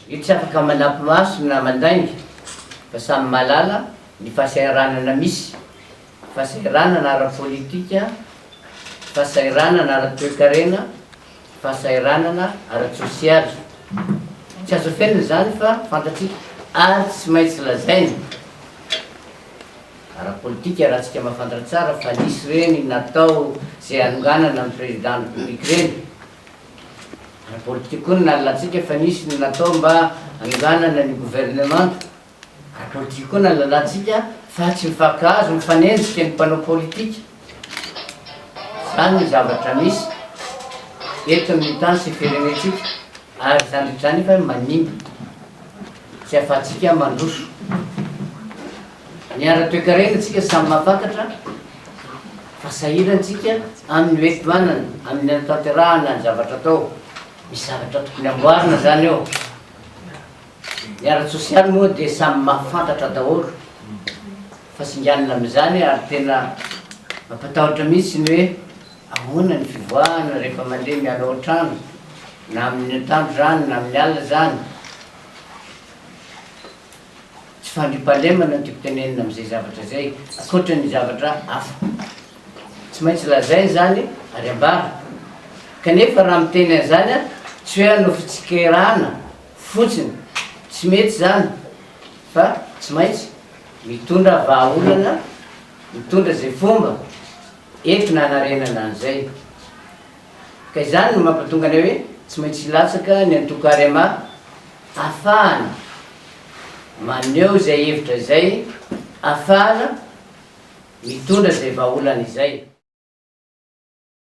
Io tsy afaka manampy maso na mandainga fa samy mahalala ny fahasahiranana misy, fahasahiranana ara-politika, fahasahiranana ara-toekarena, fahasahiranana ara-tsosialy. Tsy azo afenina izany fa fantatsika ary tsy maintsy lazaina ara-politika raha tsika mahafantatra tsara fa nisy ireny natao izay hanonganana ny Président République ireny. Ara-politika koa ny nalalantsika fa nisy ny natao mba hanonganana ny governemanta. Ara-politika koa ny nalalantsika fa tsy mifankahazo, mifanenjika ny mpanao politika. Izany ny zavatra misy eto amin'ny tany sy firenentsika ary izany rehetra izany efa manimba tsy ahafahantsika mandroso. Ny ara-toekarena tsika samy mahafantatra fa sahirana tsika amin'ny hoe tohanana, amin'ny hanatanterahana ny zavatra atao. Misy zavatra tokony amboarina zany eo. Ny ara-tsosialy moa dia samy mahafantatra daholo fa singanina amin'izany ary tena mampatahotra mihitsy ny hoe ahoana ny fivoahana rehefa mandeha miala ao an-trano na amin'ny atoandro zany na amin'ny alina zany. Tsy fandriampahalemana no tiako tenenina amin'izay zavatra izay, ankoatra ny zavatra hafa. Tsy maintsy lazaina izany ary ambara. Kanefa raha miteny an'izany aho, tsy hoe hanao fitsikerana fotsiny, tsy mety izany, fa tsy maintsy mitondra vahaolana, mitondra izay fomba entina hanarenana an'izay. Ka izany no mampatonga anay hoe tsy maintsy hilatsaka ny antoko Arema. Afahana maneho izay hevitra izay, afahana mitondra izay vahaolana izay.